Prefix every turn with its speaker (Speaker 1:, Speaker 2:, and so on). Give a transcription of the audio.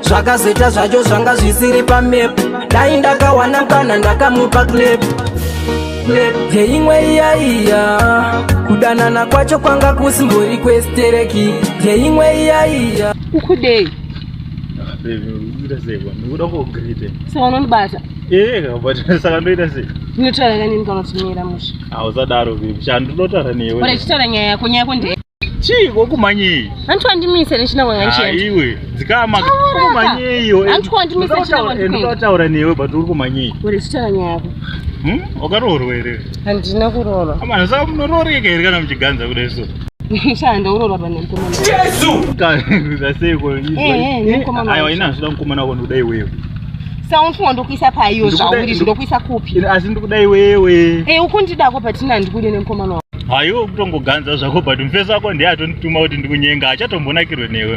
Speaker 1: zvakazoita zvacho zvanga zvisiri pamap dai ndakawana mkana ndakamupa clap yeimwe iyaiya kudanana kwacho kwanga kusimbori kwestereki yeimwe
Speaker 2: iyaiya
Speaker 3: ukudei
Speaker 2: saunondibata
Speaker 3: saka ndoita sei ndinotaura kanini
Speaker 2: kanotimira musha hausadaro bebi
Speaker 3: chandinotaura newe chitaura nyaya yako nyaya
Speaker 2: yako ndee chii kokumanyei
Speaker 3: hanti wandimise
Speaker 2: nechina kwanga ndichienda iwe dzikama
Speaker 3: kokumanyei iwe hanti wandimise nechina
Speaker 2: kwanga ndichienda ndinotaura
Speaker 3: newe but uri kumanyei uri chitara nyaya yako
Speaker 2: hm wakaroorwa
Speaker 3: here handina kuroorwa
Speaker 2: amana saka munorooreka
Speaker 3: here kana muchiganza kudai so shanda uroorwa
Speaker 2: pane mukomana jesu
Speaker 3: kaza seiko aiwa ina zvida mukomana wako ndikuda iwewe saunfunga
Speaker 2: ndokuisa paiyo zvauri zvindokuisa kupi asi ndikuda iwewe
Speaker 3: e eh, ukundidako patina
Speaker 2: ndikude nemukomana wako haiwe kutongoganza
Speaker 3: zvako but mufesi wako ndiye atondituma kuti ndikunyenga achatombonakirwe newe